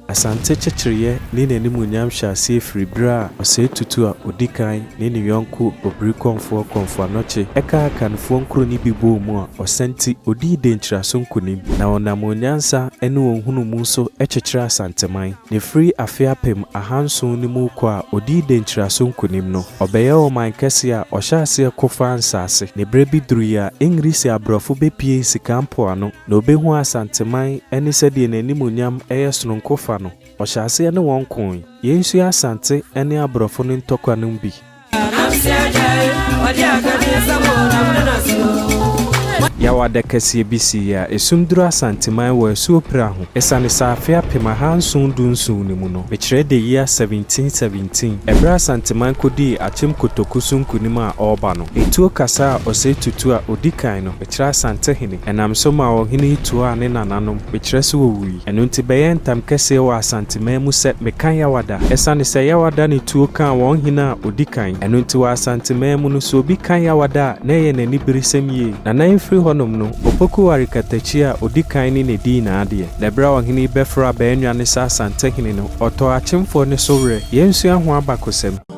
Asante kyekyereeɛ ne n'animuonyam hyɛ aseɛ firi berɛ a ɔsɛe tutu a ɔdi kan ne ne yɔnko Obiri Kɔmfoɔ Kɔmfo Anokye kaa Akanfoɔ nkuro no bi bɔɔ mu a Ɔsɛnti ɔdii Denkyiraso nkonim na ɔnam wɔn nyansa ne wɔn nhunumu so kyekyeree Asanteman na ɛfiri afe apem ahanson no mu rekɔ a ɔdii Denkyiraso nkonim no ɔbɛyɛɛ ɔman kɛseɛ a ɔhyɛɛ aseɛ ko faa nsaase na berɛ bi duruiɛ a Engirisi aborɔfo bɛpuee Sika Mpoano Na ɔbɛhuu Asanteman ne sɛdeɛ n'animuonyam yɛ sononko fa no, ɔhyɛɛ aseɛ ne wɔn koe. Yei nso yɛ Asante ne aborɔfo no ntɔkwa no mu bi. Yaw adakɛseɛ bi siiɛ a ɛsum duru Asanteman wɔ asuo pira ho ɛsiane sɛ afe apem ahanson du nson no mu no, mekyerɛ the year 1717, ɛberɛ a Asanteman kɔdii Akyem Kotoku so nkonim a ɔreba no, etuo kasaa ɔsɛe tutu a ɔdi kan no. Mekyerɛ Asantehene. Ɛnam so maa ɔhene yi tuaa ne nananom, mekyerɛ sɛ wɔwui. Ɛno nti bɛyɛɛ ntam kɛseɛ wɔ Asanteman mu sɛ meka Yawada. Ɛsiane sɛ Yawada ne tuo kaa wɔn hene a ɔdi kan, ɛno nti wɔ Asanteman mu no, sɛ obi ka Yawada a, na ɛyɛ n'aniberesɛm yie. Na na ɛmfiri hɔnom no, Opoku ware Katakyi a ɔdi kan ne ne dii n'adeɛ. Na berɛ a ɔhene yi bɛforo abɛyɛ nnwane sɛ Asantehene no, ɔtɔɔ Akyemfoɔ no so werɛ. Yɛnsua ho abakɔsɛm.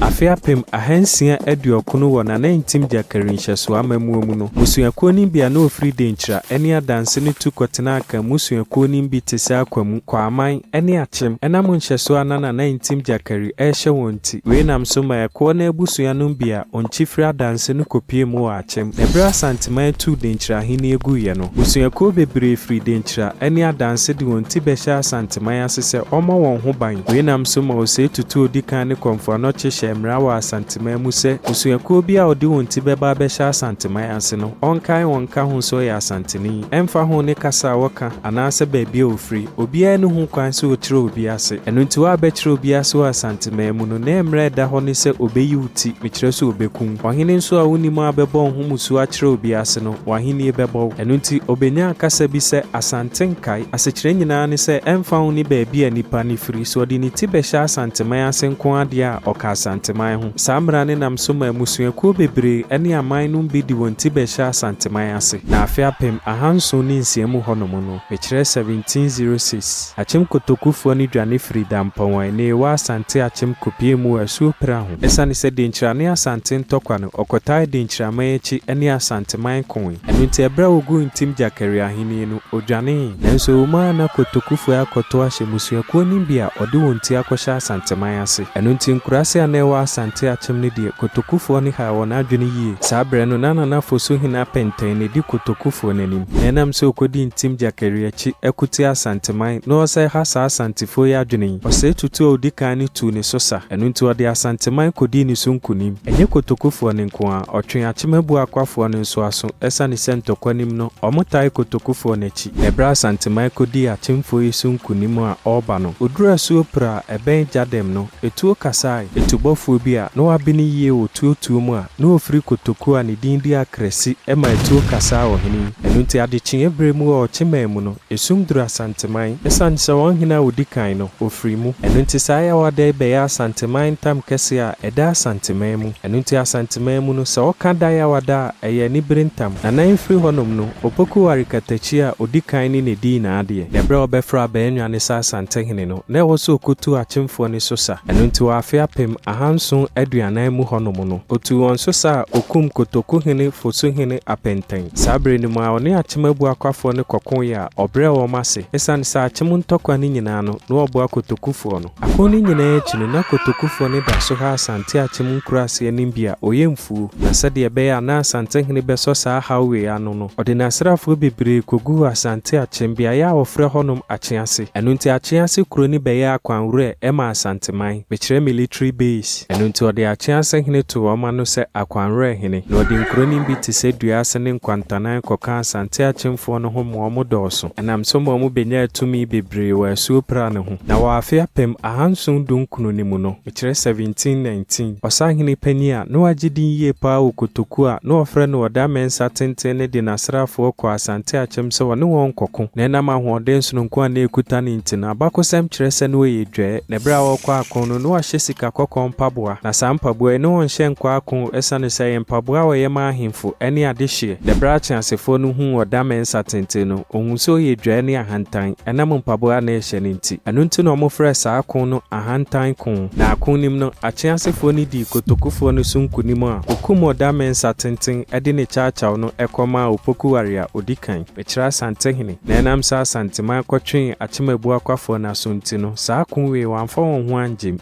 Afe apem ahansia aduɔkron wɔ Nanantim Gyakari nhyɛsoɔ amammuo mu no, mmusuakuo no bi a na wɔfiri Denkyira ne Adanse no tu kɔtenaa Akan mmusuakuo no bi te sɛ Akwamu, Kwaaman ne Akyem. Ɛnam nhyɛsoɔ a na Nanantim Gyakari rehyɛ wɔn nti, wei nam so maa ɛkoɔ no abusua no bi a wɔnkyi firii Adanse no kɔpuee mu wɔ Akyem. Kyem, Bere a Asanteman tuu Denkyira Ahenni guiɛ no, mmusuakuo bebree firi Denkyira ne Adanse de wɔn ti bɛhyɛɛ Asanteman ase sɛ ɔmmɔ wɔn ho ban. Wei nam so ma Osei Tutu a ɔdi kan ne Komfo Anokye hyɛɛ mmara wɔ Asanteman mu sɛ mmusuakuo biara a ɔde wɔn ti bɛba abɛhyɛ Asanteman ase no, ɔnkae wɔn nka ho sɛ ɔyɛ Asanteni. Ɛmfa ho ne kasa a wɔka anaasɛ baabi a wɔfiri, obiara nni ho kwan sɛ ɔkyerɛ obi ase. Ɛno nti, woabɛkyerɛ obi ase wɔ Asanteman mu no, ne mmara a ɛda hɔ ne sɛ ɔbɛyi wo ti, mekyerɛ sɛ ɔbɛkum wo. Ɔhene nso a wunnim a bɛbɔ wo ho mmusu akyerɛ obi ase no, w'ahenni bɛbɔ wo. Ɛno nti, obenyaa kasa bi sɛ, Asante nkae. Asekyerɛ nyinaa ne sɛ, ɛmfa ho ne baabi a nipa no firi, sɛ ɔde ne ti bɛhyɛ Asanteman ase nko ara deɛ a, ɔka Asanteman ho. Saa mmara no nam so ma mmusuakuo bebree ne aman nom bi de wɔn ti bɛhyɛ Asanteman ase. Na afe apem ahanson ne nsia mu hɔnom no, mekyerɛ 1706, Akyem Kotokufoɔ no dwane firii Dampɔn a ɛnnɛ yi ɛwɔ Asante Akyem kɔpuee mu wɔ Asuo Pira ho. Esiane sɛ Denkyira ne Asante ntɔkwa no, ɔkɔtae Denkyiraman akyi ne Asanteman koe. Ɛno nti, bere a woguu Ntim Gyakari ahenni no, odwanee. Nanso ɛwɔ mu ara na Kotokufue akɔtow ahyɛ mmusuakuw no bi a wɔde wɔn ti akɔhyɛ Asanteman ase. Ɛno nti, nkuraase a na ɛwɔ Asante akyem no deɛ, Kotokufoɔ no haa wɔn adwene yie. Saa bere no, na Nana Fosu hene Apɛntɛn na edi Kotokufoɔ no anim. Na ɛnam sɛ okodi Ntim Gyakari akyi, ko tia Asanteman, na ɔresɛe ha saa Asantefoɔ yi adwene yi, ɔsɛe tutuo a odi kan no tuu ne so sa. Ɛno nti ɔde Asanteman kɔdii ne so nkonim. Ɛnyɛ Kotokufoɔ no nko ara, ɔtwee Akyemabuo Akwafoɔ no nso aso ɛsiane sɛ ntɔkwanim no, wɔtae Kotokufoɔ no akyi. Ɛberɛ a Asanteman kɔdii Akyemfoɔ yi so nkonim a ɔreba no, ɔduruu asuo Pira a ɛbɛn Gyadɛm no, etuo kasae. Etubɔfoɔ bi a na wabene yie wɔ tuo tuo mu a na ɔfiri Kotoku a ne din de Akrasi ma etuo kasaa ɔhene yi. Ɛno nti adekyeeɛ berɛ mu wɔ Ɔkyeman mu no, Esum duru Asanteman esiane sɛ wɔn hene a odi kan no, ofiri mu. Ɛno nti saa yawada yi bɛyɛ Asanteman ntam kɛseɛ a ɛda Asanteman mu. Ɛno nti Asanteman mu no, sɛ wɔka da yawada a, ɛyɛ anibere ntam. Nana yi firi hɔnom no, Opoku ware Katakyi a odi kan ne ne din nyinaa deɛ. Na ɛberɛ a wɔbɛfrɛ Abaanwa no sɛ Asantehene no, na ɛwɔ sɛ ɔkɔtu Akyemfoɔ no so sa. Ɛno nti wɔ afe apem ahanson aduanan mu hɔnom no, ɔtuu wɔn so sa a ɔkumm Kotokuhene Fosuhene Apenteng. Saa bere no mu ara, ɔne akyem abuakwafoɔ no kɔkoeɛ a ɔbrɛɛ wɔn ase. Esiane sɛ akyem ntɔkwa no nyinaa no, na wɔboa kotokufoɔ no. Ako no nyinaa akyi no, na kotokufoɔ no da so ha Asante akyem nkuraase anim bi a ɔyɛ mfuo, na sɛdeɛ ɛbɛyɛ a na Asantehene bɛsɔ saa haw wei ano no, ɔde n'asraafoɔ bebree kɔguu Asante akyem beaeɛ a wɔfrɛ hɔnom Akyease. Ɛno nti Akyease kuro no bɛyɛɛ akwanwerɛ ma Asanteman. Mekyerɛ military base. Ɛno nti ɔde Akye asahene too wɔn ano sɛ Akwanwerɛhene, na ɔde nkuronim bi te sɛ Dua Ase ne Nkwantanan kɔkaa Asante Akyemfoɔ no ho ma wɔn dɔɔso. Ɛnam so ma wɔn bɛnyaa tumi bebree wɔ asuo Pra no ho. Na wɔ afe apem ahanson dunkron no mu no, mekyerɛ 1719, ɔsahene panin a na wagye din yie pa ara wɔ Kotoku a na wɔfrɛ no Ɔda Mɛnsa Tenten no de n'asraafoɔ kɔɔ Asante Akyem sɛ ɔne wɔn nkɔko. Na ɛnam ahoɔden sononko a na ɛkuta no nti no, abakɔsɛm kyerɛ sɛ na ɔyɛ dwɛɛ. Na bere a ɔrekɔ ako no, na ɔahyɛ sika kɔkɔɔ mpaboa, na saa mpaboa yi, na ɔnhyɛ nkɔ ako esiane sɛ ɛyɛ mpaboa a wɔyɛ ma ahemfo ne adehyeɛ. Na bere a ateasefoɔ no huu ɔdame nsa tenten no, wɔhuu sɛ ɔyɛ dwae ne ahantan, ɛnam mpaboa a na ɛhyɛ no nti. Ɛno nti na wɔfrɛɛ saa ako no Ahantan Ko. Na ako no mu no, ateasefoɔ no dii kotokufoɔ no so nkonim a wɔkum ɔdame nsa tenten de ne kyawkyaw no kɔmaa Opoku Ware a ɔdi kan. Ɛkyerɛ Asantehene, na ɛnam sɛ Asanteman kɔtwee Akyem Abuakwafoɔ no aso nti no, saa ko wei wɔamfa wɔn ho angyem.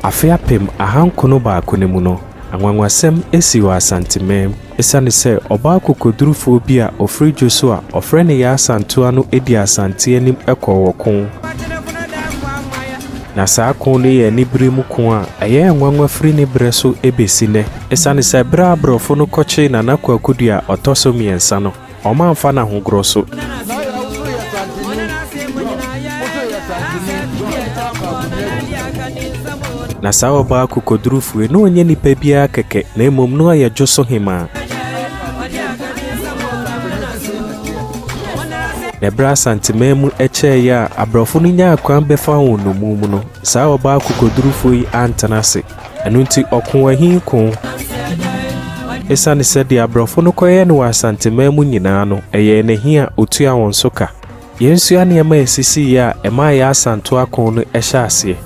Afe apem ahankono baako no mu no, anwanwasɛm sii wɔ Asanteman mu esiane sɛ ɔbaa akokodurufoɔ bi a ɔfiri Dwoso a wɔfrɛ no Yaa Asantewa no dii Asante anim kɔɔ wɔ ko. Na saa ko no yɛ anibere mu ko a ɛyɛɛ nwanwa firi ne berɛ so bɛsi nnɛ. Esiane sɛ bere a Aborɔfo no kɔkyee Nana Kwaku Duah a ɔtɔ so mmiɛnsa no, wɔamfa no ahogoɔ so, na saa ɔbaa akokodurufo yi, na ɔnyɛ nipa biara kɛkɛ, na mmom na ɔyɛ dwo so hemmaa. Na bere a Asanteman mu kyɛeɛ a Aborɔfo no nyaa kwan bɛfaa wɔn nnommum mu no, saa ɔbaa akokodurufo yi antena ase. Ɛno nti ɔkoo ahin koo. Esiane sɛ deɛ aborɔfo no kɔyɛɛ no wɔ Asanteman mu nyinaa no, ɛyɛɛ no ahin a ɔtua wɔn so ka. Yɛnsua nneɛma a ɛsisiiɛ a ɛmaa yɛn Asantew Ako no hyɛɛ aseɛ.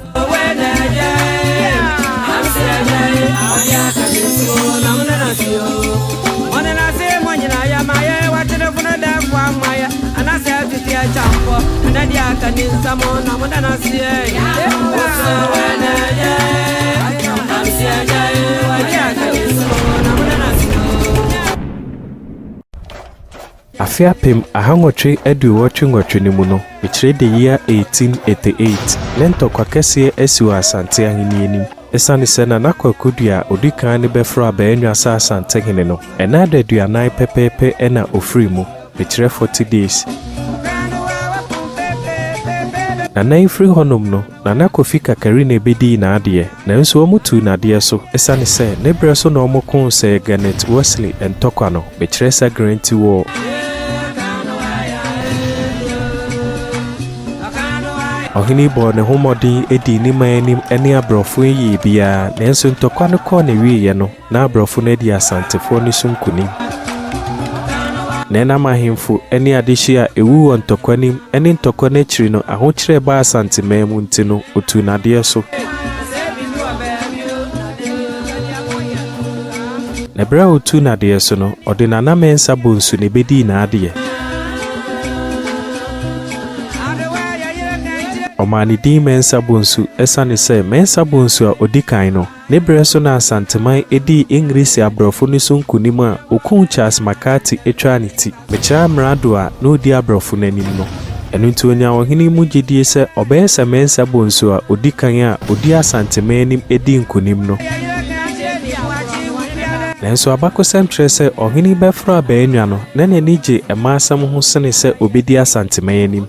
Afe apem ahanwɔtwe aduowɔtwe nwɔtwe no mu no, mekyerɛ the year 1888, ne ntɔkwa kɛseɛ asi wɔ Asante Ahennie anim. Esiane sɛ na n'Akwaku Dua a odi kan no bɛforo Abaenwa sɛ Asantehene no, ɛna adaduanan pɛpɛɛpɛ na ofiri mu, ɛkyerɛ forty days. Nana yi firi hɔnom no, Nana Kofi Kakari na ɛbɛdii n'adeɛ, nanso wɔtuu n'adeɛ so esiane sɛ ne berɛ so na wɔkoo Sir Garnet Worsley ntɔkwa no. Mekyerɛ sa guarantee wɔ. Ɔhene bɔɔ ne ho mmɔden dii ne man anim ne aborɔfo yɛɛ biara, nanso ntɔkwa no kɔɔ n'awieeɛ no, na aborɔfo no adi Asantefoɔ no so nkonim. Nneɛnam ahemfo ne adehyeɛ a ɛwu wɔ ntɔkwa no mu ne ntɔkwa no akyiri no, ahokyerɛ baa Asanteman mu nti no, ɔtuu no adeɛ so. Na bere a otuu n'adeɛ so no, ɔde n'ananmɛ nsa bɔ nsu na ebedii n'adeɛ. Ɔmaa ne din Mɛnsa Bonsu esiane sɛ Mɛnsa Bonsu a odi kan no, ne bere so na Asanteman dii Engiresi aborɔfo no so nkonim a okum Charles McCarthy twaa ne ti. Mekyerɛ amrado a na odi aborɔfo no anim no. Ɛno nti onyaa ɔhene mu gyedie sɛ ɔbɛyɛ sɛ Mensa bonsu a ɔdi kan a ɔdii Asanteman anim dii nkonim no. Nanso abakɔsɛm kyerɛ sɛ ɔhene Bɛforo Abaanwa no na n'ani gye mmaasɛm ho sene sɛ ɔbɛdi Asanteman anim.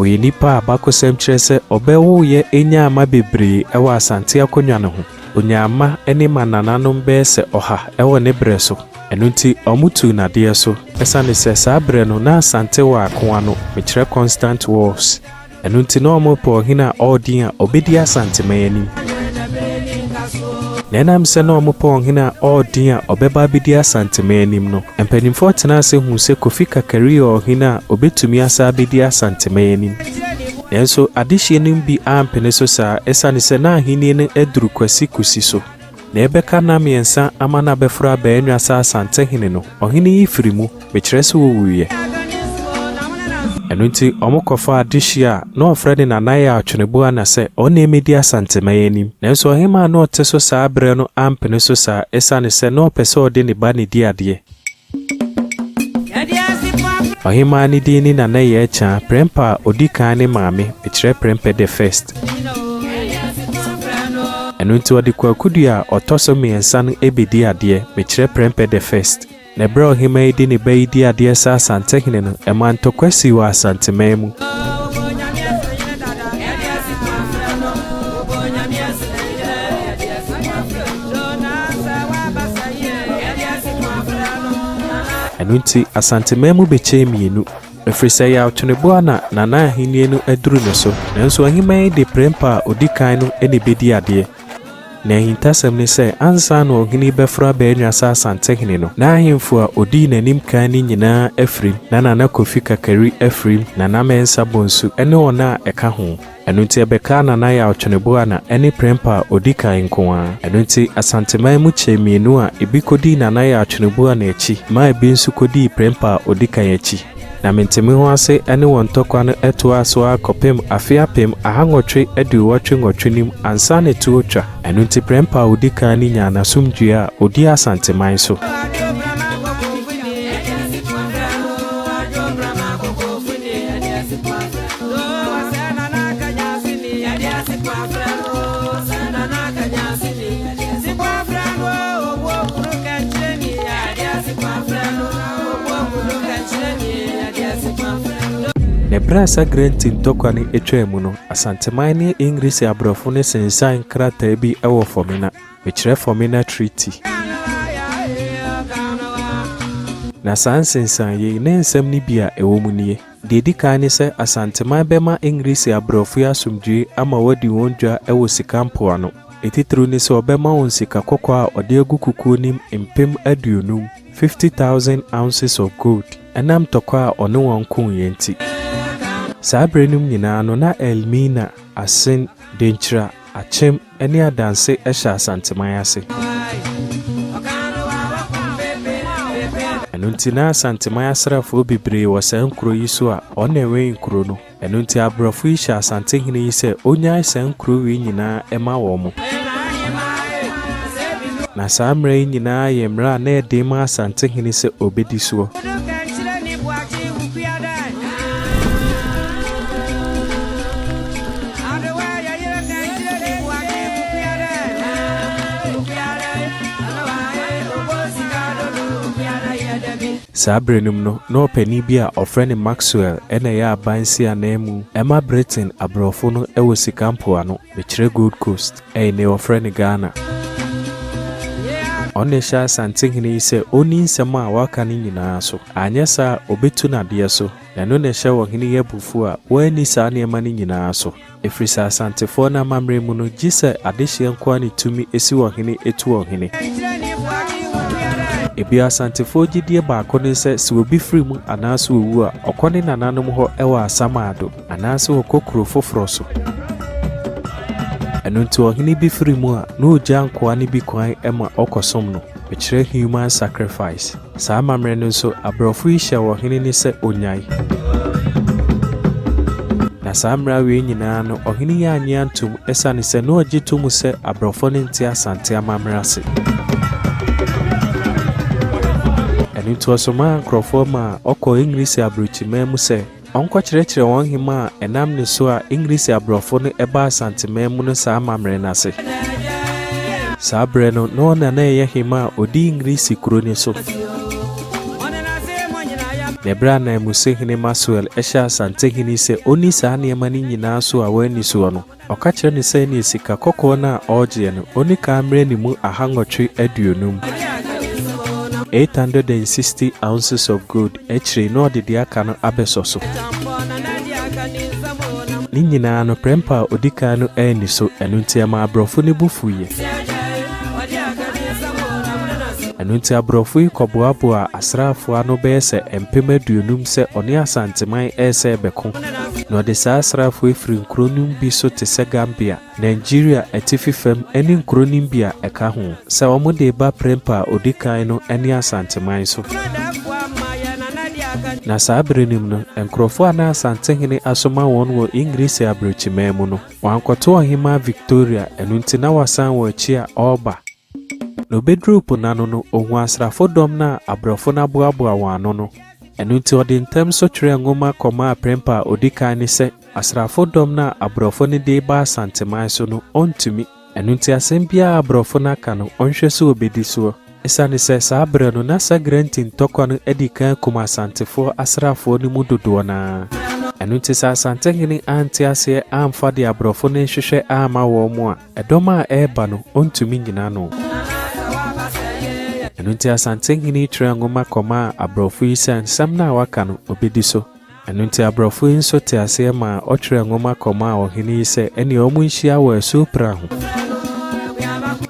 Ɔyɛ nipa a abakɔsɛm kyerɛ sɛ ɔbɛwoeɛ nyaa mma bebree wɔ Asante akonnwa no ho. Onyaa mma ne mmanananom bɛyɛ sɛ ɔha wɔ ne berɛ so, ɛno nti wɔtuu no adeɛ so. Ɛsiane sɛ saa berɛ no na Asante wɔ akoa no, mekyerɛ Constant Wars, ɛno nti na wɔrepɛ ɔhene a ɔwɔ din a ɔbɛdi Asanteman anim. Na ɛnam sɛ na wɔrepɛ ɔhene a ɔwɔ din a ɔbɛba abɛdi Asanteman anim no, mpanimfoɔ tenaa ase huu sɛ Kofi Kakari yɛ ɔhene a ɔbɛtumi asan abɛdi Asanteman anim. Nanso adehyeɛ no mu bi ampene so saa ɛsiane sɛ na ahennie no aduru Kwasi Kusi so, na ɛbɛka nna mmiɛnsa ama no abɛforo abɛn Anwasa Asantehene no, ɔhene yi firi mu, mekyerɛ sɛ ɔwuiɛ. Ɛno nti wɔkɔfaa adehyeɛ a na wɔfrɛ no Nanaye Atweneboana sɛ ɔno na ɛmmɛdi Asanteman anim. Nanso ɔhemaa a na ɔte so saa berɛ no ampene so saa ɛsiane sɛ na ɔpɛ sɛ ɔde ne ba na ɛdi adeɛ. Ɔhemaa no din ne Nana Yɛkyɛa Prɛmpɛ a ɔdi kan ne maame, mekyerɛ Prɛmpɛ the First. Ɛno nti ɔde Kwaku Dua a ɔtɔ so mmiɛnsa no bɛdi adeɛ, mekyerɛ Prɛmpɛ the First. Na ɛberɛ a ɔhemaa yi de ne ba yi di adeɛ sɛ Asantehene no, ɛmaa ntɔkwa sii wɔ Asanteman mu. Ɛno nti Asanteman mu bɛkyɛɛ mmienu, ɛfiri sɛ ɛyɛ Awtoneboa na Nana ahennie no aduru ne so. Nanso Aheman yi de Prempeh a ɔdi kan no na ɛbɛdi adeɛ. Na ahintasɛm ne sɛ ansa na ɔhene yi bɛforo aba anya sɛ Asantehene no, na ahemfo a ɔdii n'anim kan no nyinaa afirim, na Nana Kofi Kakari afirim, Nana Mensah Bonsu ne wɔn a ɛka ho. Ɛno nti ɛbɛkaa Nana Yaw Tweneboana ne Prempah a ɔdi kan nko ara. Ɛno nti Asanteman mu kyɛ mmienu a ebi kɔdii Nana Yaw Tweneboana akyi maa ebi nso kɔdii Prempah a ɔdi kan akyi. Na Mentemeho ase ne wɔn ntɔkwa no toaa so ara kɔpem afe apem ahanwɔtwe aduowɔtwe nwɔtwe no mu ansa na tuo twa. Ɛno nti Prempah a ɔdi kan no nyaa n'asomdwoeɛ a ɔdii Asanteman so. Na bere a saa Grant ntɔkwa no twaa mu no, Asanteman ne Engiresi aborɔfo no sensan nkrataa bi wɔ Fɔmena, mekyerɛ Fɔmena Treaty. Na saa nsensanee yi, ne nsɛm no bi a ɛwɔ mu nie. Deɛ ɛdi kan ne sɛ Asanteman bɛma Engiresi abrɔfo yi asomdwoe ama wɔadi wɔn dwa wɔ sika mpoano. Etitiriw ne sɛ ɔbɛma wɔn sika kɔkɔɔ a ɔde agu kukuo no mu mpem aduonum, fifty thousand ounces of gold, ɛnam tɔkwa a ɔne wɔn koeɛ nti. Saa berɛ nom nyinaa no na Elmina, Asen, Denkyira, Akyem, Ɛne adanse hyɛ Asanteman ase. Ɛno nti na Asanteman asraafoɔ bebree wɔ saa nkuro yi so a wɔn na ɛwɛn nkuro no. Ɛno nti abrɔfo yi hyɛ Asante hene yi sɛ ɔnyae saa nkuro wei nyinaa ɛma wɔn. Na saa mmara yi nyinaa yɛ mmara a na ɛden ma Asante hene sɛ ɔbɛdi soɔ. Saa bere no mu no, na ɔpanyin bi a wɔfrɛ no Maxwell na ɛyɛ abansi ananmu ma Britain aborɔfo no wɔ sika mpoano, mekyerɛ Gold Coast, ɛnnɛ wɔfrɛ no Ghana. Ɔno na ɛhyɛ Asantehene yi sɛ onni nsɛm a wɔaka no nyinaa so, anyɛ saa a obetu no adeɛ so, na ɛno na ɛhyɛ ɔhene yi abufuw a wanni saa nneɛma no nyinaa so. Ɛfiri sɛ Asantefoɔ no amammerɛ mu no, gye sɛ adehyeɛ nko ara ne tumi si wɔn hene tu wɔn hene. Bio Asantefoɔ gyedie baako ne sɛ, sɛ obi firi mu anaasɛ ɔwu a, ɔkɔ ne nananom hɔ wɔ Asamaado anaasɛ ɔkɔ kuro foforɔ so. Ɛno nti ɔhene bi firi mu a, na ɔgya nkoa no bi kwan ma ɔkɔsom no, bɛkyerɛ human sacrifice. Saa amammerɛ no nso, aborɔfo yi hyɛɛ ɔhene no sɛ onnyae. Na saa mmara wei nyinaa no, ɔhene yi annye antom esiane sɛ na ɔgye to mu sɛ aborɔfo no nte Asante amammerɛ ase. Ɛno nti, ɔsomaa nkurɔfoɔ maa ɔkɔɔ Engiresi aburokyiman mu sɛ Ɔnkɔkyerɛkyerɛ wɔn hemmaa a ɛnam ne so a Engiresi aborɔfo no ɛbaa Asanteman mu no saa amammerɛ no ase. Saa berɛ no na ɔna na ɛyɛ hemmaa a ɔdi Engiresi kuro no so. Na ɛberɛ a ananmusihene Maxwell ɛhyɛɛ Asantehene sɛ ɔnni saa nneɛma no nyinaa so a wanni soɔ no, Ɔka kyerɛ no sɛ ne sika kɔkɔɔ no a ɔregyeɛ no, ɔnni kan mmerɛ ne mu aha nwɔtwe aduonum, 860 ounces of gold, akyire yi na ɔde deɛ aka no abɛsɔ so. Ne nyinaa no, prɛmpa a ɔdi kan no anni so, ɛno nti ɛmaa aborɔfo no bo fuiɛ. Ɛno nti aborɔfo yi kɔboaboaa asraafoɔ ano bɛyɛ sɛ mpem aduonum sɛ ɔne Asanteman resɛ rebɛko. na ɔde saa asraafo yi firi nkuro no mu bi so te sɛ Gambia, Nigeria atifi fam ne nkuro no mu bi a ɛka ho, sɛ wɔde reba prɛmpa a ɔdi kan no ne Asanteman so. Na saa bere no mu no, nkurɔfoɔ a na Asantehene asoma wɔn wɔ Engiresi Abrokyiman mu no, wɔankɔto Ɔhemmaa Victoria, ɛno nti na wɔasan wɔn akyi a wɔreba. Na obeduruu po no ano no, ohuu asraafo dɔm no a aborɔfo no aboaboa wɔn ano no. Ɛno nti ɔde ntɛm so twerɛɛ nwoma kɔmaa prɛmpa a ɔdi kan no sɛ, Asraafo dɔm no a aborɔfo no de reba Asanteman so no, ɔntumi. Ɛno nti asɛm biara a aborɔfo no aka no, ɔnhwɛ sɛ ɔbɛdi soɔ. Ɛsiane sɛ saa berɛ no, na Sagrenti ntɔkwa no adi kan akum Asantefoɔ asraafoɔ no mu dodoɔ no ara. Ɛno nti sɛ Asantehene ante aseɛ amfa deɛ aborɔfo no rehwehwɛ amma wɔn a, Ɛdɔm a ɛreba no, ɔntumi nnyina ano. Ɛno nti Asante Hene twerɛɛ nwoma kɔmaa aborɔfo yi sɛ nsɛm no a waka no, ɔbɛdi so. Ɛno nti aborɔfo yi nso tee aseɛ maa ɔtwerɛɛ nwoma kɔmaa ɔhene yi sɛ ɛnneɛ wɔnhyia wɔ asuo Pira ho.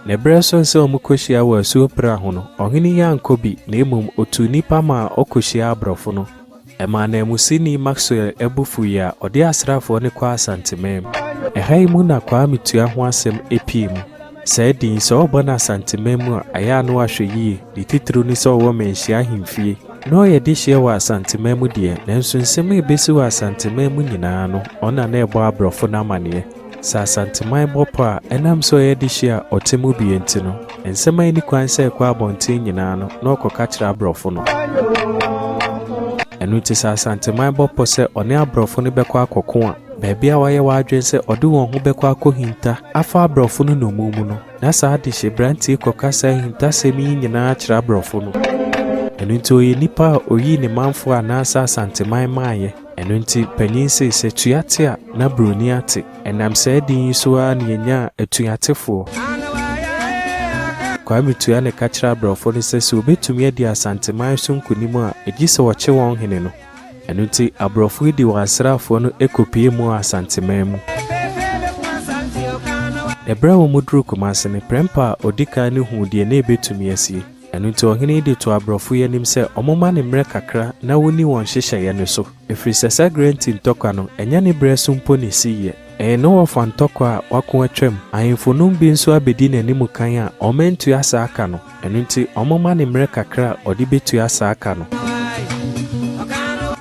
Ne berɛ soe sɛ wɔkɔhyia wɔ asuo Pira ho no, ɔhene yi ankɔ bi, na mmom ɔtuu nnipa maa wɔkɔhyiaa aborɔfo no. Ɛmaa nanmusini Maxwell bo fuwii a ɔde asraafoɔ no kɔɔ Asantemam. Ɛha yi mu na Kwame Tua ho asɛm pii mu. Saa din yi, sɛ wɔbɔ no Asantemam mu a, ɛyɛ a na wɔahwɛ yie, ne titiriw ne sɛ ɔwɔ Manhyia ahemfie. Na ɔyɛ dehyeɛ wɔ Asantemam deɛ, nanso nsɛm a ɛbɛsi wɔ Asantemam nyinaa no, ɔno na na ɛrebɔ aborɔfo no amanneɛ. Sɛ Asanteman bɔ pɔ a, ɛnam sɛ ɔyɛ dehye a ɔte mu bi nti no, nsɛm a enni kwan sɛ ɛkɔ abɔnten nyinaa no, na ɔkɔka kyerɛ aborɔfo no. Ɛno nti sɛ Asanteman bɔ pɔ sɛ ɔne aborɔfo no bɛkɔ akɔko a, baabi a wayɛ w'adwene sɛ ɔde wɔn ho bɛkɔ akohinta afa aborɔfo no nnommum mu no, na saa dehyeberante yi kɔka saa ahintasɛm yi nyinaa kyerɛ aborɔfo no. Ɛno nti ɔyɛ nipa a oyii ne manfo a anaasɛ Asanteman maeɛ. Ɛno nti panyin see sɛ Tuate a na buroni ate. Ɛnam saa din yi so ara na yɛnyaa Atuatefoɔ. Kwame Tua na ɛka kyerɛɛ abrɛfoɔ no sɛ sɛ wɔbɛtumi adi Asanteman so nkonim a, ɛgye sɛ wɔkye wɔn hene no. Ɛno nti abrɔfo yi de wɔn asraafoɔ no kɔpuee mu wɔ Asanteman mu. Ɛberɛ a wɔduruu Kumase no, Prempeh a ɔdi kan no huu deɛ na ɛbɛtumi asie. Ɛno nti ɔhene yi de too aborɔfo yi anim sɛ wɔmma no mmerɛ kakra na wɔnni wɔn nhyehyɛeɛ no so, ɛfiri sɛ saa Grenti ntɔkwa no, ɛnyɛ ne berɛ so mpo na ɛsiiɛ. Ɛyɛ ne wɔfa ntɔkwa a wɔako atwam. Ahemfo nom bi nso abɛdi n'anim kan a wɔantua saa ka no, ɛno nti wɔmma no mmerɛ kakra a ɔde bɛtua saa ka no.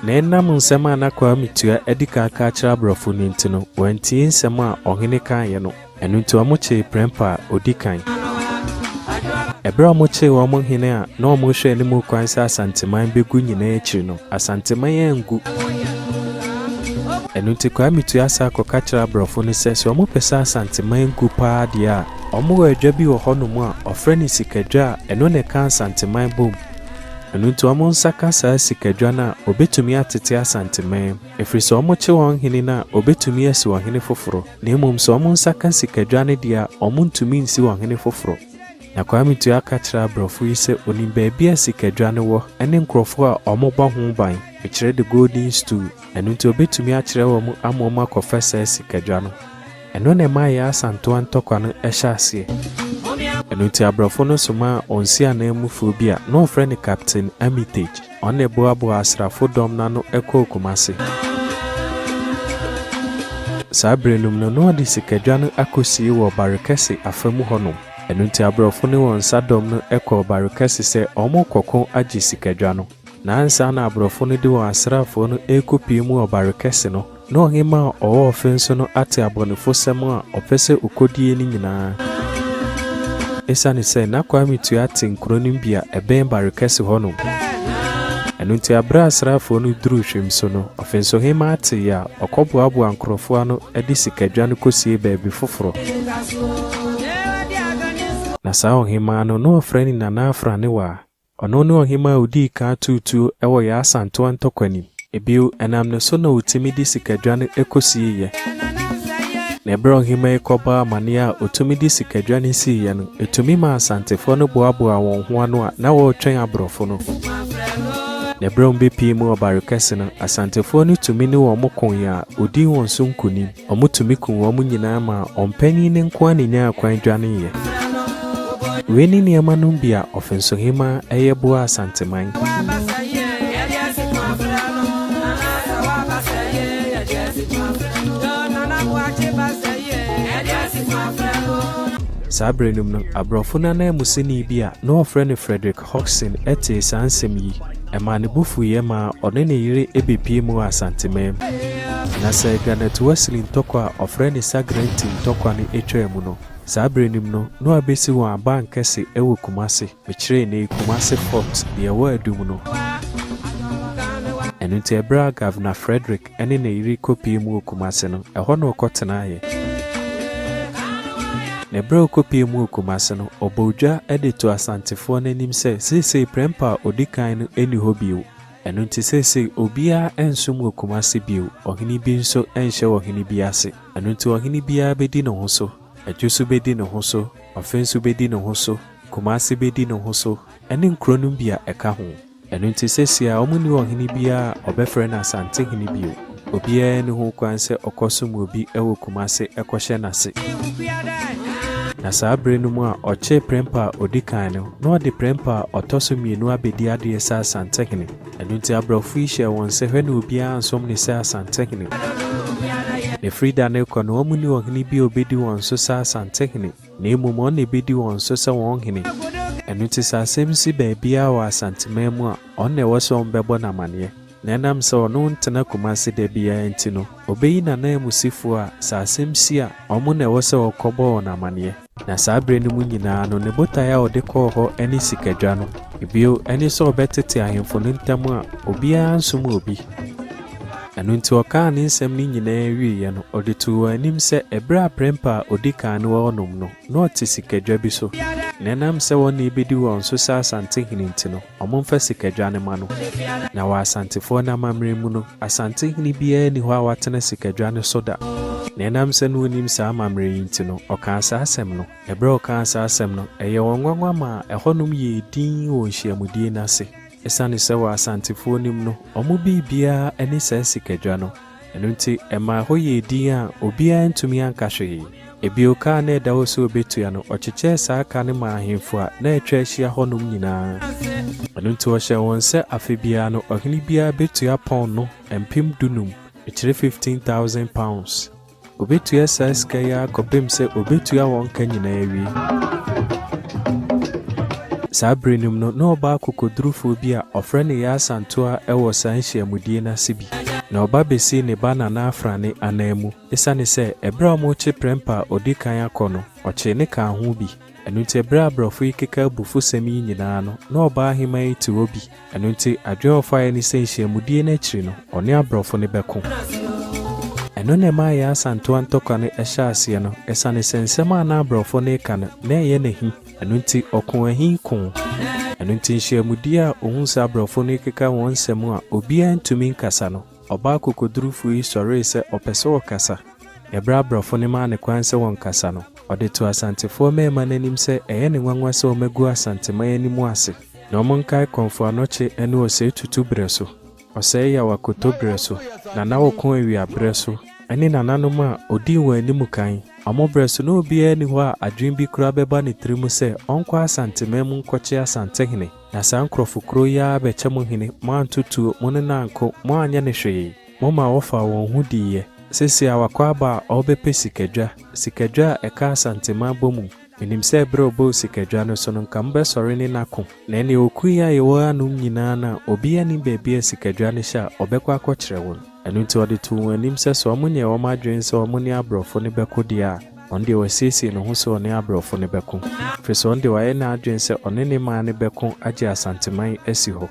Na ɛnam nsɛm a na Kwame Tua adi kan ka akyerɛ aborɔfo no nti no, wɔantie nsɛm a ɔhene kaeɛ no. Ɛno nti wɔkyee prɛmpa a odi kan. Bere a wɔkyee wɔn hene a na wɔrehwɛ anim kwan sɛ Asanteman begu nyinaa akyiri no, Asanteman angu. Ɛno nti Kwame tua sa kɔka kyerɛ aborɔfo no sɛ sɛ wɔpɛ sɛ Asanteman gu paa deɛ a, wɔwɔ adwa bi wɔ hɔnom a wɔfrɛ no Sikadwa a ɛno na ɛka Asanteman bom. Ɛno nti wɔn nsa ka saa sikadwa no a, wɔbɛtumi atete Asanteman. Ɛfiri sɛ wɔkye wɔn hene no a, wɔbɛtumi asi ɔhene foforɔ, na mmom sɛ wɔn nsa ka sikadwa no deɛ a, wɔntumi nsi ɔhene foforɔ. Na Kwame Ture aka akyerɛ aborɔfo yi sɛ ɔnim baabi a sikadwa no wɔ ne nkurɔfoɔ a wɔbɔ ho ban, mekyerɛ the golden stool, ɛno nti ɔbɛtumi akyerɛ wɔn ama wɔn akɔfa saa sikadwa no. Ɛno na ɛmaa Yaa Asantewaa ntɔkwa no hyɛ aseɛ. Ɛno nti aborɔfo no somaa wɔn nsiananmufoɔ bi a na wɔfrɛ no Captain Armitage. Ɔna ɛboaboa asrafo dɔm no ano ɛkɔɔ Kumasi. Saa bere nom no na ɔde sikadwa no akɔsie wɔ Barikɛse afa mu hɔ nom. Ɛno nti abrɔfo ne wɔn nsa dɔm no ɛkɔɔ Barikɛse sɛ ɔmo kɔko agye sikadwa no. Na ansa na abrɔfo no de wɔn asraafoɔ no ɛrekɔ pue mu wɔ Barikɛse no, Na ɔhemmaa a ɔwɔ ɔfe nso no ate abɔnefosɛm a ɔpɛ sɛ okodie no nyinaa. Esiane sɛ na Kwame Tua te nkuro no mu bi a ɛbɛn Barekɛse hɔ nom. Ɛno nti aberɛ a asraafoɔ no duruu Hwim so no, ɔfensohemmaa tee a, ɔkɔboaboaa nkurɔfoɔ ano de sikadwa no kɔsiee baabi foforɔ. Na saa ɔhemmaa no, na ɔfrɛ no Nana Afraniwaa. Ɔno ne ɔhemmaa a odii kan too tuo wɔ yɛn Asantewa ntɔkwanim. Bio, ɛnam ne so na wotumi de sikadwa no kosieeɛ. Na ɛberɛ a ɔhemmaa yi kɔbɔɔ amanneɛ a otumi de sikadwa no siiɛ no, etumi maa Asantefoɔ no boaboaa wɔn ho ano a na wɔretwɛn aborɔfo no. Na ɛberɛ a wɔbɛpiee mu ɔbare kɛse no, Asantefoɔ no tumi ne wɔn koeɛ a wɔdii wɔn so nkonim. Wɔtumi kum wɔn nyinaa maa ɔmpanin no nko ara na ɛnyaa kwan dwaneeɛ. Wei ne nneɛma nom bi a Ɔfensohemaa yɛ boaa Asanteman. Saa berɛ nom no, aborɔfo no ananmusini bi a na wɔfrɛ no Frederick. Hodgson tee saa nsɛm yi, ɛmaa ne bo fuiɛ maa ɔne ne yere bɛpuee mu wɔ Asanteman mu. Na sɛ Garnet Wesley ntɔkwa a wɔfrɛ no Sagrenti ntɔkwa no twaa mu no, saa berɛ no mu no, na wɔabɛsi wɔn abankɛse wɔ Kumasi. Mekyeree no Kumasi Fort, deɛ ɛwɔ Adum no. Ɛno nti, ɛberɛ a Governor Frederick. ne ne yere kɔpuee mu wɔ Kumasi no, ɛhɔ na ɔkɔtenaeɛ. Na berɛ a ɔkɔpuee mu wɔ Kumasi no, ɔbɔɔ dwa de too Asantefoɔ no anim sɛ seesei Prempeh a ɔdi kan no nni hɔ bio, ɛno nti seesei obiara nsom wɔ Kumasi bio, ɔhene bi nso nhyɛ ɔhene bi ase, ɛno nti ɔhene biara bɛdi ne ho so, Adwosu bɛdi ne ho so, Ɔfenso bɛdi ne ho so, Kumasi bɛdi ne ho so, ne nkuro no bi a ɛka ho. Ɛno nti sesia wɔnni ɔhene biara a wɔbɛfrɛ no Asantehene bio. Obiara nni ho kwan sɛ ɔkɔsom obi wɔ Kumase kɔhyɛ n'ase. Na saa bere no mu a ɔkyee prɛmpa a ɔdi kan no, na ɔde prɛmpa a ɔtɔ so mmienu abɛdi adeɛ sɛ Asantehene. Ɛno nti aborɔfo yi hyɛɛ wɔn sɛ hwɛ na obiara ansom no sɛ Asantehene. Na ɛfiri da no rekɔ no wɔnni ɔhene bi a ɔbɛdi wɔn so sɛ Asantehene. Na mmom ɔno na ɛbɛdi wɔn so sɛ wɔn hene. Ɛno nti sɛ asɛm si baabiara wɔ Asanteman mu a, ɔno na ɛwɔ sɛ wɔbɛbɔ no amanneɛ. Na ɛnam sɛ ɔno ntena Kumase da biara nti no, ɔbɛyi n'ananmusifoɔ a, sɛ asɛm si a, wɔn na ɛwɔ sɛ wɔkɔbɔ wɔn amanneɛ. Na saa berɛ no mu nyinaa no, ne botaeɛ a ɔde kɔɔ hɔ ne sikadwa no, bio ne sɛ ɔbɛtete ahemfo no ntam a, obiara nsom obi. Ɛno nti ɔkaa ne nsɛm no nyinaa wieeɛ no, ɔde too wɔn anim sɛ ɛberɛ a prɛmpa a ɔdi kan no wɔ hɔnom no, na ɔte sikadwa bi so, na ɛnam sɛ wɔn na ɛbɛdi wɔn so sɛ Asantehene nti no, wɔmfa sikadwa no mma no. Na wɔ Asantefoɔ no amammerɛ mu no, Asantehene biara nni hɔ a watena sikadwa no so da, na ɛnam sɛ na ɔnim saa amammerɛ yi nti no, ɔkaa saa asɛm no. Ɛberɛ a ɔkaa saa asɛm no, ɛyɛɛ wɔn nwanwa maa ɛhɔnom yɛɛ dinn wɔ nhyiamudie no ase. Esiane sɛ wɔ Asantefoɔ nim no wɔn biribiara ne saa sikadwa no, ɛno nti ɛmaa ɛhɔ yɛɛ dinn a obiara antumi anka hwee. Ebio ka a na ɛda hɔ sɛ ɔbɛtua no, ɔkyekyɛɛ saa ka no maa ahemfo a na atwa ahyia hɔnom nyinaa. Ɛno nti ɔhyɛɛ wɔn sɛ afe biara no ɔhene biara bɛtua pɔnno mpem dunum, ɛkyerɛ fifteen thousand pounds, Obetua saa sika yi ara kɔpem sɛ obetua wɔn ka nyinaa awie. Saa bere no mu no, na ɔbaa akokodurufo bi a ɔfrɛ no Yaa Santoa wɔ saa nhyiamudie no ase bi, na ɔba besii ne ba Nana Afrane ananmu. Esiane sɛ bere a wɔrekye prɛmpa a odi kan akɔ no, ɔkyee ne kaa ho bi, Ɛno nti bere a borɔfo yi keka abufusɛm yi nyinaa no, na ɔbaa hemaa yi te hɔ bi. Ɛno nti, adwene a ɔfaeɛ ne sɛ nhyiamudie no akyiri no, ɔne aborɔfo no bɛko. Ɛno na ɛmaa yɛn Asantewa ntɔkwa no hyɛɛ aseɛ no, ɛsiane sɛ nsɛm a na aborɔfo no reka no, na ɛyɛ no ahi. Ɛno nti, ɔkoo ahi koo. Ɛno nti nhyiamudie a ɔhuu sɛ aborɔfo no rekeka wɔn nsɛm a obiara ntumi nkasa no, Ɔbaa kokodurufo yi sɔree sɛ ɔpɛ sɛ ɔkasa. Bere a aborɔfo no maa no kwan sɛ ɔnkasa no, ɔde too Asantefoɔ mmarima no anim sɛ ɛyɛ no nwanwa sɛ wɔagu Asanteman anim ase, na wɔnkae Kɔmfo Anokye ne Ɔsɛe Tutu berɛ so, Ɔsɛe Yaw Akoto berɛ so, Nana Ɔko Awia berɛ so, ne nananom a ɔdii wɔn anim kan, wɔn berɛ so. Ná obiara nni hɔ a adwene bi koraa bɛba ne tirim sɛ ɔnkɔ Asanteman mu nkɔkye Asantehene. Na saa nkurɔfo korɔ yi ara bɛkyɛ mo hene, moanto tuo, mo ne no anko, moanyɛ no hwee. Momaa wɔfaa wɔn ho diiɛ. Sese a wakɔ aba a ɔrebɛpɛ sikadwa, sikadwa a ɛka Asanteman bɔ mu, menim sɛ berɛ a ɔbɔɔ sikadwa no so no nka mobɛsɔre ne no ako, na ɛnneɛ ɔkuu yɛn a yɛwɔ hanom nyinaa no a obiara nnim baabi a sikadwa no hyɛ a ɔbɛkɔ akɔkyerɛ wɔn. Ɛno nti ɔde too wɔn anim sɛ sɛ wɔnyɛɛ wɔn adwene sɛ wɔne aborɔfo no bɛko deɛ a, Ɔno deɛ wasiesie ne ho sɛ ɔne abrɔfo no bɛko, firi sɛ ɔno deɛ wayɛ n'adwene sɛ ɔne ne man no bɛko agye Asanteman asi hɔ.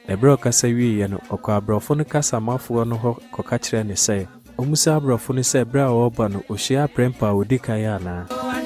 Na berɛ a ɔkasa wieeɛ no, ɔkɔɔ abrɔfo no kasamafoɔ no hɔ kɔka kyerɛɛ no sɛ ɔmmisa abrɔfo no sɛ berɛ a ɔreba no ɔhyiaa aprɛnpɛ a ɔdi kan anaa,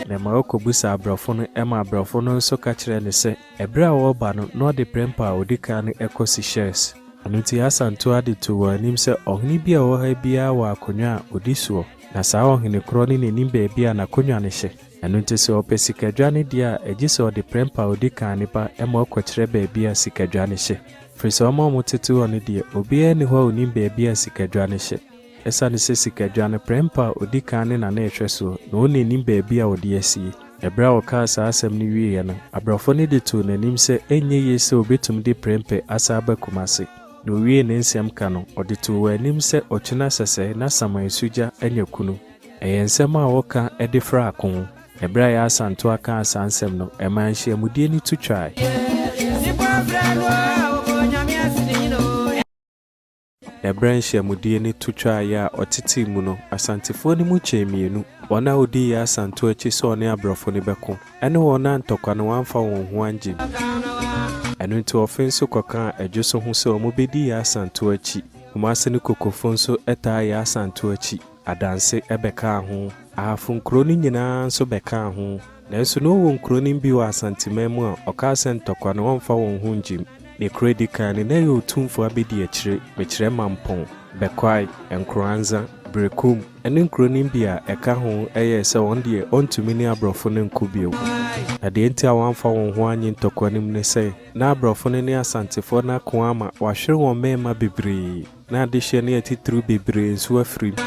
na ɛma ɔkɔbisa abrɔfo no, ɛma abrɔfo no nso ka kyerɛɛ no sɛ. Ɛberɛ a wɔreba no, na ɔde prɛmpa a ɔdi kan no kɔ Sikhes. Ɛno nti Asa ntoo ade too wɔn anim sɛ, Ɔhene bi a ɔwɔ ha biara wɔ akonnwa a ɔdi soɔ, na saa ɔhene korɔ no nnim baabi a n'akonnwa no hyɛ. Ɛno nti sɛ ɔpɛ sikadwa no deɛ a, ɛgye sɛ ɔde prɛmpa a ɔdi kan no ba ma ɔkɔkyerɛ baabi a sikadwa no hyɛ. Ɛfiri sɛ wɔn a wɔtete hɔ no deɛ, obiara nni hɔ a ɔnim baabi a sikadwa no hyɛ. Esiane sɛ sikadwa no prɛmpa a odi kan ne nane ɛhwɛ so na ɔnna nnim baabi a ɔde asie. Bere a ɔkaa saa asɛm no wieeɛ no, abrɛfo no de too n'anim sɛ ɛnyɛ yie sɛ ɔbɛtumi de prɛmpɛ asan aba Kumasi. Na ɔwiee ne nsɛm ka no, ɔde too wɔn anim sɛ ɔkyena sɛsɛɛ na saman su gya anya kunu. Ɛyɛ nsɛm a wɔka de fra ako. Bere a Yaa Santoa kaa saa nsɛm no, ɛmaa nhyiamudie no tu twae. Na berɛ a nhyiamudie no to twaeɛ a ɔtetee mu no, Asantefoɔ no mu kyɛɛ mmienu, wɔn a wɔdii Yaa Santow akyi sɛ ɔne aborɔfo no bɛko, ɛne wɔn a ntɔkwa no wɔamfa wɔn ho angye no. Ɛno nti wɔfe nso kɔkaa Adwo so ho sɛ wɔbɛdi Yaa Santow akyi. Kumase no Kokofo nso taa Yaa Santow akyi. Adanse bɛkaa ho. Ahafo nkuro no nyinaa nso bɛkaa ho. Nanso na ɔwɔ nkuronim bi wɔ Asanteman mu a ɔkaa sɛ ntɔkwa no ɔmfa wɔn ho ngyim. Ne kuro a ɛdi kan no na ɛyɛ Otumfoɔ Abedi Akyire, Mekyerɛ Mampong, Bɛkwae, Nkoranza, Berekum ne nkuronim bi a ɛka ho yɛɛ sɛ wɔn deɛ ɔntumi ne aborɔfo no nko bio. Na deɛ nti a wɔamfa wɔn ho annye ntɔkwa no mu ne sɛ na aborɔfo no ne Asantefoɔ no ako ama wɔahwere wɔn mmarima bebree. Na adehyeɛ no yɛ titiriw bebree nso afiri mu.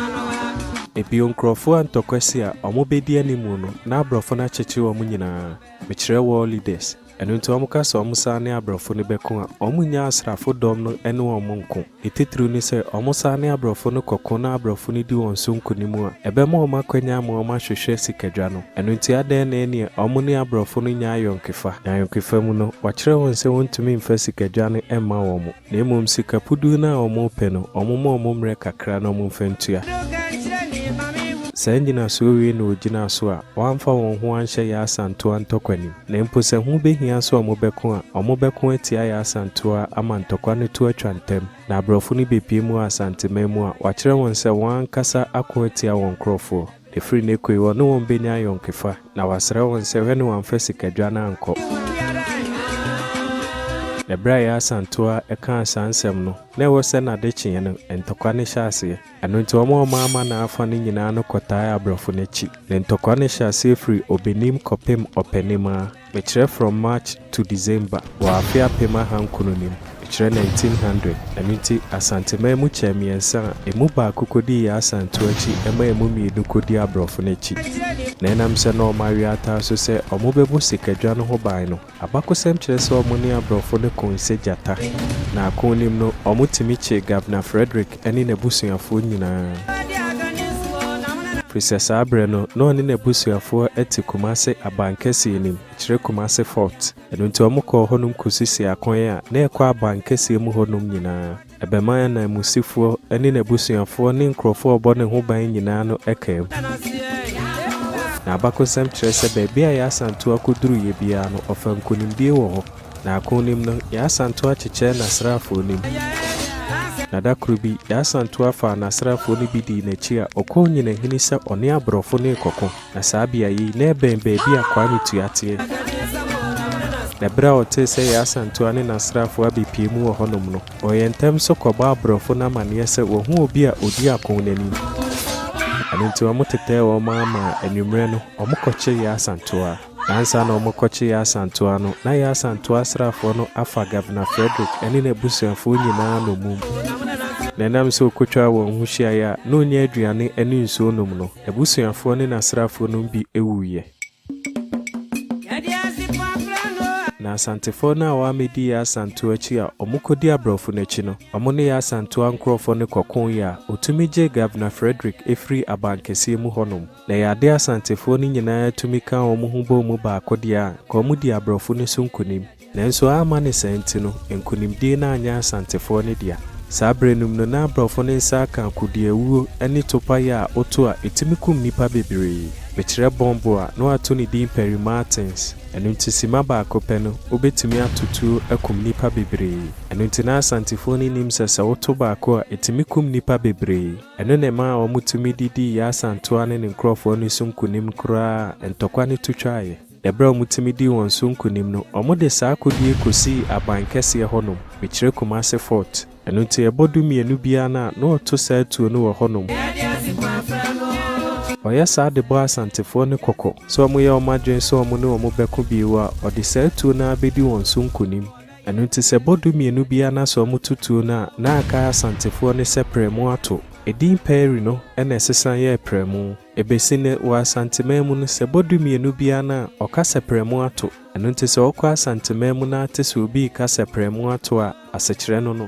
Ebio nkurɔfoɔ a ntɔkwasi a wɔbɛdi animu no na abrɔfo no akyekyere wɔn nyinaa, mekyerɛ world leaders, ɛno nti wɔka sɛ wɔn san ne abrɔfo no bɛko a, wɔn nyɛ asrafo dɔm no ne wɔn nko. Ne titiriw ne sɛ wɔn san ne abrɔfo no kɔko na abrɔfo no di wɔn so nkonim a, ɛbɛma wɔn akwanya ama wɔn ahwehwɛ sikadwa no. Ɛno nti adɛn na ɛnneɛ wɔn ne abrɔfo no nyɛ ayɔnkefa? Na ayɔnkefa mu no, wɔakyerɛ wɔn sɛ wɔntumi mfa sikadwa no mma wɔn. Na mmom sika puduu no a wɔpɛ no, wɔmma wɔn mmerɛ kakra na wɔmfa ntua. Saa nnyinasoɔ wei na wɔgyinaa so a wɔamfa wɔn ho anhyɛ Yasantoa ntɔkwa no mu. Na mpo sɛ ho bɛhia sɛ wɔbɛko a, wɔbɛko atia Yasantoa ama ntɔkwa no to atwa ntɛm, na aborɔfo no bɛpue mu wɔ Asanteman mu a wɔakyerɛ wɔn sɛ wɔn ankasa ako atia wɔn nkorɔfoɔ. Ɛfiri nnɛ kɔi, wɔne wɔn bɛnya ayɔnkefa, na wɔasrɛ wɔn sɛ wɛne wɔn amfa sikadwa no ankɔ. Na berɛ a ɛyɛ asantoa a ɛkaa saa nsɛm no, na ɛwɔ sɛ nnade kyeeɛ no, ntɔkwa no hyɛ aseɛ. Ɛno nti wɔn a wɔmaa mana afa no nyinaa no kɔtaae aborɔfo no akyi. Na ntɔkwa no hyɛ aseɛ firi ɔbɛnim kɔpem ɔpɛnim ara. Mekyerɛ from March to December wɔ afe apem ahankron no mu, mekyerɛ nineteen hundred, ɛno nti Asanteman mu kyɛɛ mmiɛnsa a ɛmu baako kɔdii yɛn Asantew akyi ɛma ɛmu mmienu kɔdii aborɔfo no akyi. Na ɛnam sɛ na wɔn awe ata nso sɛ wɔbɛbɔ sikadwa no ho ban no, abakosɛm kyerɛ sɛ wɔne aborɔfo no koo sɛ gyata, na akonim no wɔtumi kyee Governor Frederick. ne n'abusuafoɔ nyinaa. Firi sɛ saa berɛ no, na ɔne n'abusuafoɔ te Kumase Abankɛseɛ anim, kyerɛ Kumase Fort. Ɛno nti wɔkɔɔ hɔnom kɔsisii akwan a na ɛkɔ Abankɛseɛ mu hɔnom nyinaa. Ɛbɛmaa ananmusifoɔ ne n'abusuafoɔ ne nkurɔfoɔ a wɔbɔ ne ho ban nyinaa no kaa mu. Na abakɔsɛm kyerɛ sɛ baabi a Yasantuo akɔduruiɛ biara no, ɔfaa nkonimdie wɔ hɔ. Naako no mu no, yɛasan to akyekyɛ n'asraafoɔ no mu, na da koro bi, yɛasan to afaa n'asraafoɔ no bi dii n'akyi a ɔkɔɔ Nyinahini sɛ ɔne aborɔfo no rekɔko, na saa beaeɛ yi, na ɛbɛn baabi a Kwame Tua teɛ. Na berɛ a ɔtee sɛ yɛn asantua ne n'asraafoɔ abɛpue mu wɔ hɔnom no, ɔyɛɛ ntɛm so kɔbɔɔ aborɔfo no amanneɛ sɛ wɔahu obi a ɔdi ako no anim. Ɛno nti wɔtetɛɛ wɔn ara maa anwummerɛ no, wɔkɔkyee yɛn asantua. Ansa na wɔrekɔkye Yaa Asantua no, na Yaa Asantua asraafoɔ no afa Governor Frederick ne n'abusuafoɔ nyinaa nnommum, na ɛnam sɛ ɔkɔtwaa wɔn ho hyiaeɛ a na ɔnnya aduane ne nsuo nnom no, n'abusuafoɔ ne n'asraafoɔ no mu bi wuiɛ. Na Asantefoɔ no a wɔammɛdi Yaa Asantua akyi a wɔkɔdii aborɔfo no akyi no, wɔn ne Yaa Asantua nkurɔfoɔ no kɔkoo yɛ a ɔtumi gyee Governor Frederick firii abankɛseɛ mu hɔnom. Na ɛyɛ adeɛ a Asantefoɔ no nyinaa tumi ka wɔn ho bɔ mu baako deɛ a, nka wɔdii aborɔfo no so nkonim. Nanso amma ne saa nti no, nkonimdie no anyɛ Asantefoɔ no dea. Saa berɛ no mu no, na aborɔfo no nsa aka akudeawuo ne topaeɛ a woto a ɛtumi kum nnipa bebree. Mekyerɛ bɔmbo a, na wɔato ne din Perry Martins. Ɛno nti simma baako pɛ no, wobɛtumi ato tuo akum nnipa bebree. Ɛno nti na Asantefoɔ no nim sɛ sɛ woto baako a, ɛtumi kum nnipa bebree. Ɛno na ɛmaa wɔtumi de dii Yasan toa ne ne nkurɔfoɔ no so nkonim koraa a ntɔkwa no to twaeɛ. Ɛberɛ a wɔtumi dii wɔn so nkonim no, wɔde saa akodie kɔsii aban kɛseɛ hɔnom, mekyerɛ Kumase Fort. Ɛno nti ɛbɔ dumienu biara no a, na wɔto saa atuo no wɔ hɔnom. Wɔyɛ saa de bɔ Asantefoɔ no kɔkɔ sɛ wɔyɛ wɔn adwene sɛ wɔne wɔn bɛko bio a, wɔde saa atuo no ara bɛdi wɔn so nkonim. Ɛno nti sɛ bɔ dumienu biara no asɔw mu tutuw no a, na aka Asantefoɔ no sɛ prɛmu ato. Edin Pɛɛri no na ɛsesa yɛɛ Prɛmu. Ɛbɛsi nnɛ, wɔ Asanteman mu no, sɛ bɔ dumienu biara no a, ɔka sɛ prɛmu ato. Ɛno nti sɛ wokɔ Asanteman mu na ate sɛ obi reka sɛ prɛmu ato a, asekyerɛ no no.